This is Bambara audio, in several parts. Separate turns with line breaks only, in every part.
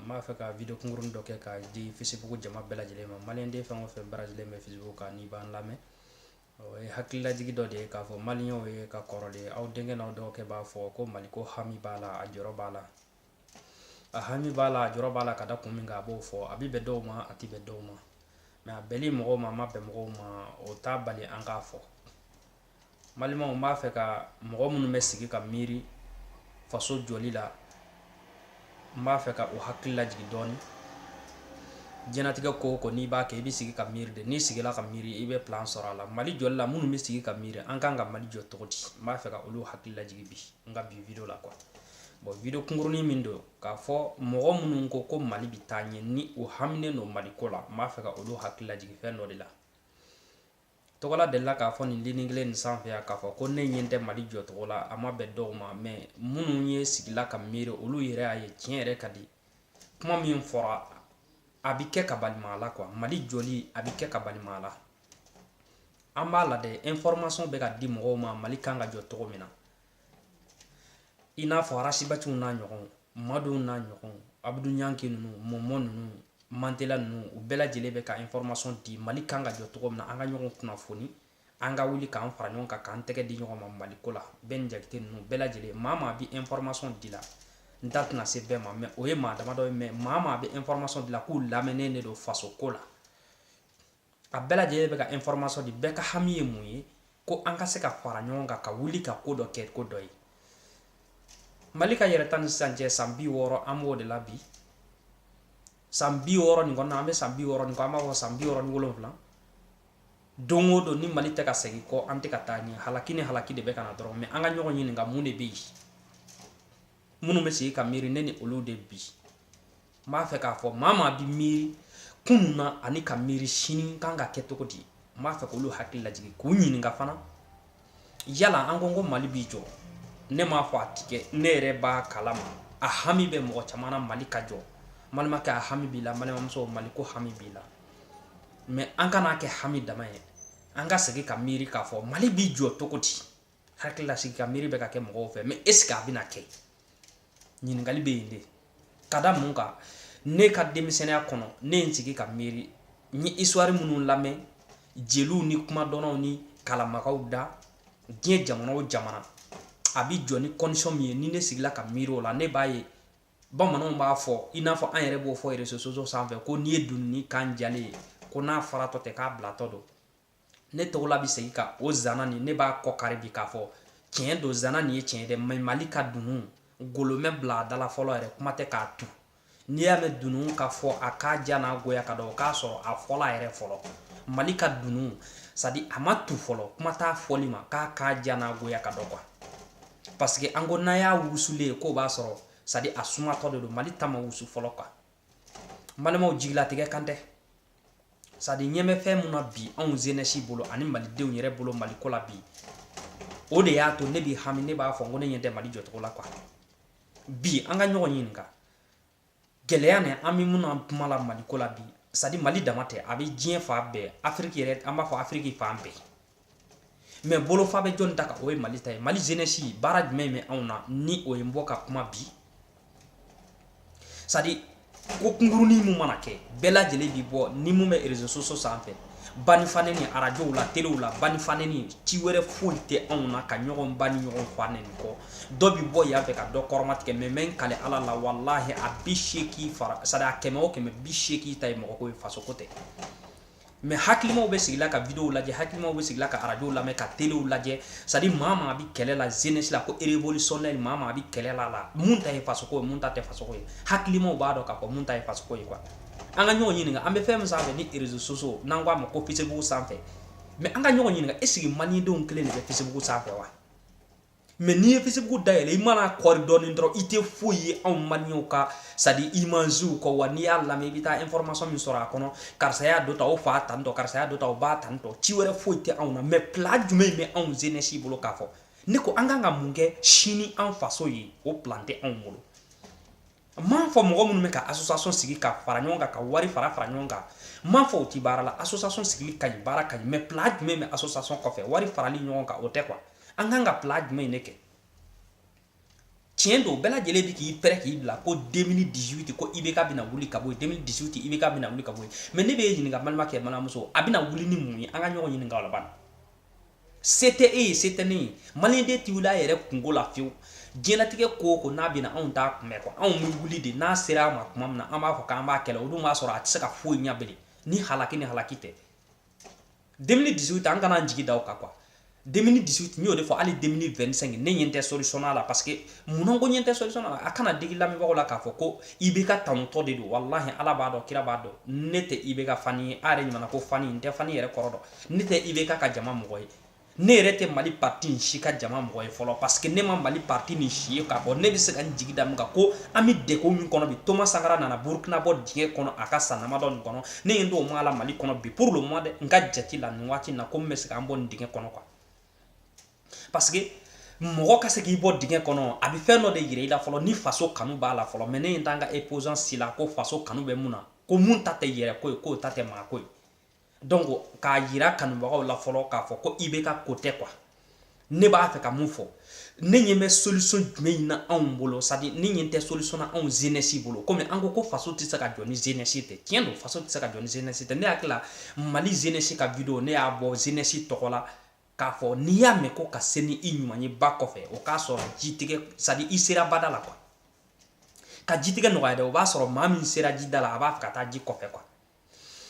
n b'a fɛ ka video kunkuruni dɔ kɛ ka di facebook jama bɛɛ lajɛlen ma maliyɛnden fɛn o fɛn branchelen bɛ facebook kan n'i b'an lamɛn o ye hakililajigi dɔ de ye k'a fɔ maliyɛnw ye ka kɔrɔlen aw denkɛ n'aw dɔgɔkɛ b'a fɔ ko mali ko hami b'a la a jɔrɔ b'a la a hami b'a la a jɔrɔ b'a la ka da kun min kan a b'o fɔ a bɛ bɛn dɔw ma a tɛ bɛn dɔw ma mɛ a bɛnli mɔgɔw ma a ma bɛn mɔgɔw ma o t'a bali an k'a fɔ N balimaw n b'a fɛ ka mɔgɔ minnu bɛ sigi ka miiri faso jɔli la n b'a fɛ ka u hakili lajigin dɔɔnin diɲɛnatigɛ ko o ko n'i b'a kɛ i bɛ sigi ka miiri de n'i sigira ka miiri i bɛ plan sɔrɔ a la mali jɔ la minnu bɛ sigi ka miiri an kan ka mali jɔ cogo di n b'a fɛ ka olu hakili lajigin bi n ka bi video la quoi bon video kunkuruni min don k'a fɔ mɔgɔ minnu ko ko mali bɛ taa ɲɛ ni u haminen don mali ko la n b'a fɛ ka olu hakili lajigin fɛn dɔ de la Tɔgɔla delila k'a fɔ nin ligne kelen nin sanfɛ yan k'a fɔ ko ne ɲɛ tɛ mali jɔ cogo la a ma bɛn dɔw ma mɛ minnu ye sigila ka miiri olu yɛrɛ y'a ye tiɲɛ yɛrɛ ka di kuma min fɔra a bɛ kɛ ka balima la quoi mali jɔli a bɛ kɛ ka balima la an b'a la dɛ information bɛ ka di mɔgɔw ma mali kan ka jɔ cogo min na i n'a fɔ arasibatiw n'a ɲɔgɔn maduw n'a ɲɔgɔn abudu ɲanki ninnu mɔmɔ ninnu mantela ninnu u bɛɛ lajɛlen bɛ ka information di mali kan ka jɔ cogo min na an ka ɲɔgɔn kunnafoni an ka wuli k'an fara ɲɔgɔn kan k'an tɛgɛ di ɲɔgɔn ma mali ko la bɛni jakite ninnu bɛɛ lajɛlen maa o maa bɛ information di la n da tɛna se bɛɛ ma mɛ o ye maa damadɔ ye mɛ maa o maa bɛ information di la k'u lamɛnnen de don faso ko la a bɛɛ lajɛlen bɛ ka information di bɛɛ ka hami ye mun ye ko an ka se ka fara ɲɔgɔn kan ka wuli ka ko dɔ kɛ ko dɔ ye mali ka yɛrɛta ni sisan cɛ san bi wɔɔrɔ an b'o de la bi san bi wɔɔrɔ nin kɔnɔna an bɛ san bi wɔɔrɔ nin kɔ an b'a fɔ san bi wɔɔrɔ ni wolonwula don o don ni mali tɛ ka segin kɔ an tɛ ka taa ɲɛ halaki ni halaki de bɛ ka na dɔrɔn mɛ an ka ɲɔgɔn ɲininka mun de bɛ yen minnu bɛ sigi ka miiri ne ni olu de bi n b'a fɛ k'a fɔ maa o maa bɛ miiri kunun na ani ka miiri sini kan ka kɛ cogo di n b'a fɛ k'olu hakili lajigin k'u ɲininka fana yala an ko ko mali b'i jɔ ne m'a fɔ a tɛ kɛ ne yɛrɛ b'a kalama a hami bɛ mɔgɔ caman na mali ka jɔ n balimakɛ a hami b'i la n balimamuso mali ko hami b'i la mɛ an kan'a kɛ hami dama ye an ka sigi ka miiri k'a fɔ mali b'i jɔ cogo di hakilila sigi ka miiri bɛ ka kɛ mɔgɔw fɛ mɛ est-ce que a bɛna kɛ ɲininkali bɛ yen de ka da mun kan ne ka denmisɛnninya kɔnɔ ne ye n sigi ka miiri n ye histoire minnu lamɛn jeliw ni kumadɔnnaw ni kalanbagaw da diɲɛ jamana o jamana a bi jɔ ni condition min ye ni ne sigila ka miiri o la ne b'a ye bamananw b'a fɔ i n'a fɔ an yɛrɛ b'o fɔ reseaux sociaux sanfɛ ko n'i ye dununi kan jalen ye ko n'a faratɔ tɛ k'a bilatɔ don ne tɔgɔla bɛ segin ka o zana nin ne b'a kɔ kari bi k'a fɔ tiɲɛ don zana nin ye tiɲɛ dɛ mais mali ka dunun golo ma bila a da la fɔlɔ yɛrɛ kuma tɛ k'a tu n'i y'a mɛn dunun ka fɔ a k'a ja n'a goya ka dɔn k'a sɔrɔ a fɔla a yɛrɛ fɔlɔ mali ka dunun c'est à dire a ma tu fɔlɔ kuma t'a fɔli ma k'a k'a ja n'a goya ka dɔn quoi parce que an ko n'a y'a wusulen ye k'o b'a sɔrɔ c'est à dire a sumatɔ de don mali ta ma wusu fɔlɔ quoi balimaw jigilatigɛ kan tɛ c'est à dire ɲɛ bɛ fɛn min na bi anw jeunesse bolo ani malidenw yɛrɛ bolo mali ko la bi o de y'a to ne bɛ hami ne b'a fɔ n ko ne ɲɛ tɛ mali jɔcogo la quoi bi an ka ɲɔgɔn ɲininka gɛlɛya nin an bɛ min na kuma la mali ko la bi c'est à dire mali dama tɛ a bɛ diɲɛ fan bɛɛ afiriki yɛrɛ an b'a fɔ afiriki fan bɛɛ mais bolofa bɛ jɔn ta kan o ye mali ta ye mali jeunesse baara jumɛn bɛ anw na ni o ye bɔ ka kuma bi c'est à dire ko kunkurunin min mana kɛ bɛɛ lajɛlen bi bɔ ni mun bɛ réseaux sociaux sanfɛ ba ni fa nɛni arajow la telew la ba ni fa nɛni ci wɛrɛ foyi tɛ anw na ka ɲɔgɔn ba ni ɲɔgɔn fa nɛni kɔ dɔ bi bɔ yan fɛ ka dɔ kɔrɔmatigɛ mais n bɛ n kali ala la walahi a bi seegin fara c'est à dire a kɛmɛ o kɛmɛ bi seegin ta ye mɔgɔ ko ye faso ko tɛ mais hakilimaw bɛ sigila ka videow lajɛ hakilimaw bɛ sigila ka arajow lamɛn ka telew lajɛ c'est à dire maa maa bɛ kɛlɛ la jeunesse la ko révolutionnaire maa maa bɛ kɛlɛ la la mun ta ye fasoko ye mun ta tɛ fasoko ye hakilimaw b'a dɔn k'a fɔ mun ta ye fasoko ye quoi an ka ɲɔgɔn ɲininka an bɛ fɛn min sanfɛ ni réseaux sociaux n'an k'a ma ko facebook sanfɛ mais an ka ɲɔgɔn ɲininka est-ce que malidenw kelen de bɛ facebook sanfɛ wa mais n'i ye facebook dayɛlɛ i mana kɔri dɔɔni dɔrɔn i tɛ foyi ye anw maliyɛnw ka c'est à dire imagew kɔ wa n'i y'a lamɛn i bɛ taa information min sɔrɔ a kɔnɔ karisa y'a dɔ ta o fa tan tɔ karisa y'a dɔ ta o ba tan tɔ ci wɛrɛ foyi tɛ anw na mais plan jumɛn bɛ anw jeunesse bolo k'a fɔ ne ko an kan ka mun kɛ sini an faso ye o plan tɛ anw bolo m'a fɔ mɔgɔ minnu bɛ ka association sigi ka fara ɲɔgɔn kan ka wari fara fara ɲɔgɔn kan m'a fɔ o ti baara la association sigili ka ɲi baara ka ɲi mais plan jumɛn bɛ association kɔfɛ wari farali ɲɔgɔn kan o tɛ quoi an kan ka plan jumɛn de kɛ tiɲɛ don bɛɛ lajɛlen bɛ k'i pɛrɛn k'i bila ko 2018 ko IBK bɛna wuli ka bɔ yen 2018 IBK bɛna wuli ka bɔ yen mais ne bɛ ɲininka balimakɛ balimamuso a bɛna wuli ni mun ye an ka ɲɔgɔn ɲininka o la bani Se tɛ e ye se tɛ ne ye maliden tɛ wili a yɛrɛ kunko la fiyewu diɲɛlatigɛ ko o ko n'a bɛna anw t'a kunbɛn quoi anw bɛ wuli de n'a sera a ma tuma min na an b'a fɔ k'an b'a kɛlɛ o dun b'a sɔrɔ a tɛ se ka foyi ɲɛ bilen ni halaki tɛ 2018 an kana jigi da o kan quoi 2018 n y'o de fɔ hali 2025 ne ɲɛ tɛ solution la parce que munna ko ɲɛ tɛ solution la a kana digi lamɛnbagaw la k'a fɔ ko IBK tanutɔ de don walahi ala b'a dɔn kira b'a dɔn ne tɛ IBK fan ye a yɛrɛ ɲuman ko fan n tɛ fan yɛrɛ kɔrɔ dɔn ne tɛ ibk ka jama mɔgɔ ye ne yɛrɛ tɛ mali pati in si ka jama mɔgɔ ye fɔlɔ parce que ne ma mali pati nin si ye k'a fɔ ne bɛ se ka n jigi da min kan ko an bɛ degun min kɔnɔ bi thomas sankara nana burukina bɔ dingɛ kɔnɔ a ka san damadɔ nin kɔnɔ ne ɲɛ t'o maa la mali kɔnɔ bi pour le moment dɛ n ka jate la nin waati na ko n bɛ se ka an bɔ nin dingɛ kɔnɔ quoi parce que mɔgɔ ka se k'i bɔ dingɛ kɔnɔ a bɛ fɛn dɔ de yira i la fɔlɔ ni faso kanu b'a la fɔlɔ mais ne ɲɛ t'an ka opposant si la ko faso kanu bɛ mun na ko mun ta tɛ yɛrɛ ko ye k'o ta tɛ maa ko ye donc k'a yira kanubagaw la fɔlɔ k'a fɔ ko ibk ko tɛ quoi ne b'a fɛ ka mun fɔ ne ɲɛ bɛ solution jumɛn na anw bolo c'est à dire ne ɲɛ tɛ solution na anw jeunesse bolo kɔmi an ko ko faso tɛ se ka jɔ ni jeunesse tɛ tiɲɛ don faso tɛ se ka jɔ ni jeunesse tɛ ne hakili la mali jeunesse ka vidéo ne y'a bɔ jeunesse tɔgɔ la k'a fɔ n'i y'a mɛn ko ka se ni i ɲuman ye ba kɔfɛ o k'a sɔrɔ jitigɛ c'est à dire i sera bada la quoi ka jitigɛ nɔgɔya dɛ o b'a sɔrɔ maa min sera jida la a b'a fɛ ka taa ji kɔfɛ quoi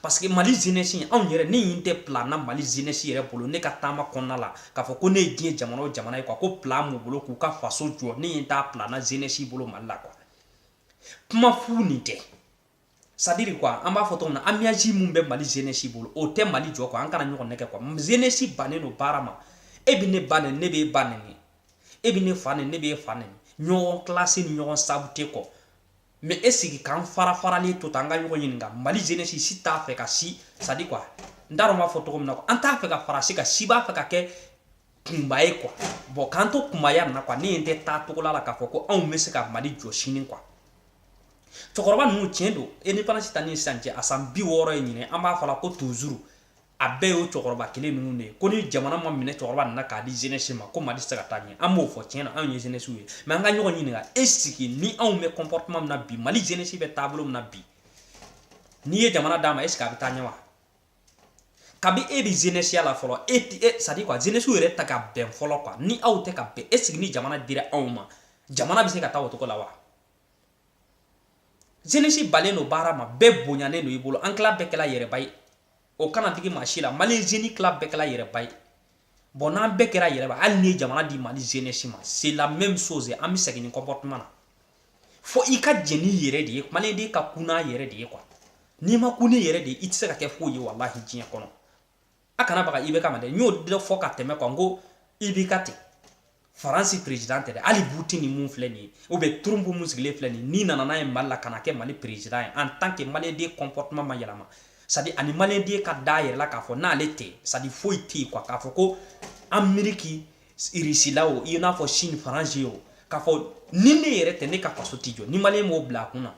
parce que mali jeunesse anw yɛrɛ ne ɲɛ tɛ plan na mali jeunesse yɛrɛ bolo ne ka taama kɔnɔna la k'a fɔ ko ne ye diɲɛ jamana o jamana ye quoi ko plan b'u bolo k'u ka faso jɔ ne ɲɛ t'a plan na jeunesse bolo mali la quoi kuma fu nin tɛ c'est à dire quoi an b'a fɔ cogo min na ambiance min bɛ mali jeunesse bolo o tɛ mali jɔ quoi an kana ɲɔgɔn nɛgɛn quoi jeunesse bannen don baara ma e bɛ ne ba nɛni ne b'e ba nɛni e bɛ ne fa nɛni ne b'e fa nɛni ɲɔgɔn clasher ni ɲɔgɔn saboter kɔ mais est ce que k'an fara faralen to tan an ka ɲɔgɔn ɲininka mali jeunesse si t'a fɛ ka si c'est à dire quoi n t'a dɔn n b'a fɔ cogo min na quoi an t'a fɛ ka fara si kan si b'a fɛ ka kɛ kunba ye quoi bon k'an to kunbaya na quoi ne ɲɛ tɛ taa cogo la k'a fɔ ko anw bɛ se ka mali jɔ sini quoi cɛkɔrɔba ninnu tiɲɛ don indépendance ta ni sisan cɛ a san bi wɔɔrɔ ye ɲinɛ an b'a fɔ la ko toujours a bɛɛ y'o cɛkɔrɔba kelen ninnu de ye ko ni jamana ma minɛ cɛkɔrɔba nin na k'a di jeunesse ma ko mali tɛ se ka taa ɲɛ an b'o fɔ tiɲɛ na anw ye jeunesse ye mais an ka ɲɔgɔn ɲininka est ce que ni anw bɛ comportement min na bi mali jeunesse bɛ taabolo min na bi n'i ye jamana d'a ma est ce que a bɛ taa ɲɛ wa kabi e bɛ jeunesse la fɔlɔ e ti e c'est à dire quoi jeunesse yɛrɛ tɛ ka bɛn fɔlɔ quoi ni aw tɛ ka bɛn est ce que ni jamana dira anw ma jamana bɛ se ka taa o cogo la wa jeunesse bannen don baara ma bɛɛ bonyanen don i bolo an tila bɛɛ kɛla yɛrɛba ye o kana digi maa si la mali jeune tila bɛɛ kɛra yɛrɛba ye bon n'an bɛɛ kɛra yɛrɛba hali n'i ye jamana di mali jeunesse ma c'est la même chose an bɛ segin nin comportement na fo i ka jɛn n'i yɛrɛ de ye maliyɛnden ka kun n'a yɛrɛ de ye quoi n'i ma kun n'i yɛrɛ de ye i tɛ se ka kɛ foyi ye walahi diɲɛ kɔnɔ a kana baga ibk ma dɛ n y'o dɔ fɔ ka tɛmɛ quoi n ko ibk tɛ faransi perezidan tɛ dɛ hali poutine mun filɛ nin ye ou bien trump mun sigilen filɛ nin n'i nana n'a ye mali la ka n'a kɛ mali perezidan ye en tant que maliyɛnden comportement ma yɛlɛma c'est à dire ani maliyɛnden ka da yɛrɛ la k'a fɔ n'ale tɛ c'est à dire foyi tɛ yen quoi k'a fɔ ko ameriki irisila o i n'a fɔ chine faransi o k'a fɔ ni ne yɛrɛ tɛ ne ka faso tɛ jɔ ni maliyɛn m'o bila a kun na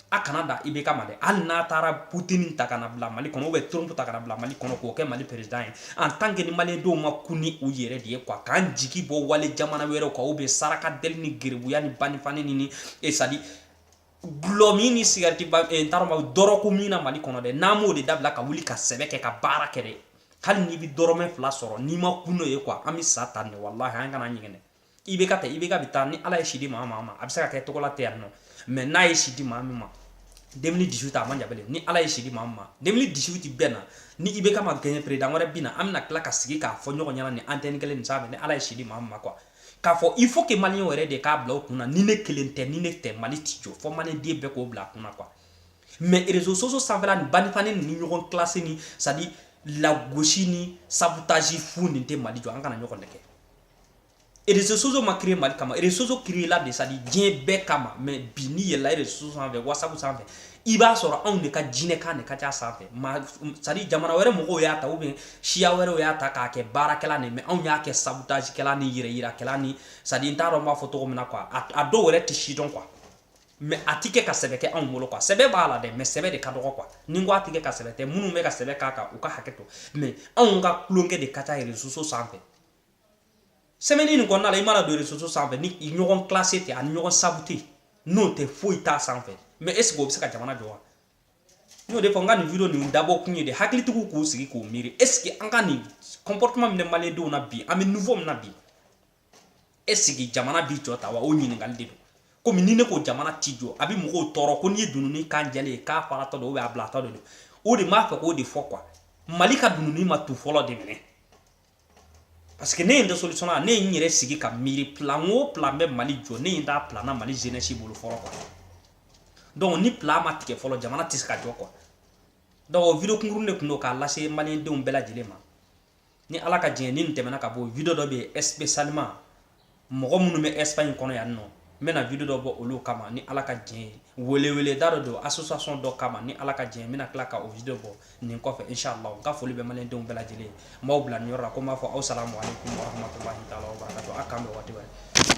a kana da IBK ma dɛ hali n'a taara putini ta ka na bila mali kɔnɔ ou bien trump ta ka na bila mali kɔnɔ k'o kɛ mali perezidan ye en tant que ni maliyɛndenw ma kun ni u yɛrɛ de ye quoi k'an jigi bɔ wale jamana wɛrɛw kan ou bien saraka deli ni gerebuya ni banifani ni ni c'est à dire gulɔ min ni sigariti ba eh, n t'a dɔn ma dɔrɔko min na mali kɔnɔ dɛ n'an m'o de dabila ka wuli ka sɛbɛ kɛ ka baara kɛ dɛ hali n'i bɛ dɔrɔmɛ fila sɔrɔ n'i ma kun n'o ye quoi an bɛ sa tan de walahi an kana ɲɛgɛn dɛ IBK tɛ IBK bɛ taa ni ala ye si di maa min ma a bɛ se ka kɛ tɔgɔla tɛ yan nɔ mais n'a ye si di maa min ma deux mille dix huit a man jan bilen ni ala ye si di maa min ma deux mille dix huit bɛ na ni IBK ma gagné président wɛrɛ bɛ na an bɛna tila ka sigi k'a fɔ ɲɔgɔn ɲɛna ni antenne kelen nin sanfɛ ni ala ye si di maa min ma quoi k'a fɔ il faut que maliyɛnw yɛrɛ de k'a bila o kunna ni ne kelen tɛ ni ne tɛ mali ti jɔ fɔ maliyɛnden bɛɛ k'o bila a kunna quoi mais reseaux sociaux sanfɛla ni banifani ni ɲɔgɔn clash ni c'est à dire lagosi ni sabotage fu nin tɛ mali jɔ an kana ɲɔgɔn nɛgɛ reseaux sociaux ma créé Mali kama reseaux sociaux créé la de c'est à dire diɲɛ bɛɛ kama mais bi n'i yɛlɛla reseaux sociaux sanfɛ WhatsApp sanfɛ i b'a sɔrɔ anw de ka jinɛkan de ka ca sanfɛ ma c'est à dire jamana wɛrɛ mɔgɔw y'a ta ou bien siya wɛrɛw y'a ta k'a kɛ baarakɛla ni mais anw y'a kɛ sabotage kɛla ni yɛrɛ yirakɛla ni c'est à dire n t'a dɔn n b'a fɔ cogo min na quoi a dɔw yɛrɛ tɛ si dɔn quoi mais a ti kɛ ka sɛbɛ kɛ anw bolo quoi sɛbɛ b'a la dɛ mais sɛbɛ de ka dɔgɔ quoi ni n ko a ti kɛ ka sɛbɛ tɛ minnu bɛ ka sɛbɛ k'a kan u ka hakɛ to mais anw ka tulonkɛ de ka ca reseaux sociaux sanfɛ semaine nin kɔnɔna la i mana don reseaux sociaux sanfɛ ni ɲɔgɔn clashé tɛ ani ɲɔgɔn saboté n'o tɛ foyi t'a sanfɛ mais est ce que o bɛ se ka jamana jɔ wa n y'o de fɔ n ka nin video nin dabɔ kun ye de hakilitigiw k'u sigi k'u miiri est ce que an ka nin comportement min bɛ maliyɛndenw na bi an bɛ niveau min na bi est ce que jamana bi jɔ tan wa o ɲininkali de don komi ni ne ko jamana ti jɔ a bɛ mɔgɔw tɔɔrɔ ko n'i ye dununi kan jɛlen ye k'a faratɔ don a bilatɔ de don o de m'a fɛ k'o de fɔ quoi mali ka dununi ma tu fɔlɔ de minɛ parce que ne ɲɛ tɛ solution la ne ye n yɛrɛ sigi ka miiri plan o plan bɛ mali jɔ ne ɲɛ t'a plan na mali jeunesse bolo fɔlɔ quoi donc ni plan ma tigɛ fɔlɔ jamana tɛ se ka jɔ quoi donc o video kunkurun de tun don k'a lase maliyɛndenw bɛɛ lajɛlen ma ni ala ka diɲɛ ni nin tɛmɛna ka bɔ video dɔ bɛ yen spécialement mɔgɔ minnu bɛ espagne kɔnɔ yan nɔ n bɛna video dɔ bɔ olu kama ni ala ka jɛn ye weleweleda dɔ don association dɔ kama ni ala ka jɛn n bɛna tila ka o video bɔ nin kɔfɛ inshallah n ka foli bɛ maliyɛndenw bɛɛ lajɛlen ye n b'aw bila nin yɔrɔ la ko n b'a fɔ aw salamu aleykum warahmatulahi taala wabarakatu a k'an bɛn waati wɛrɛ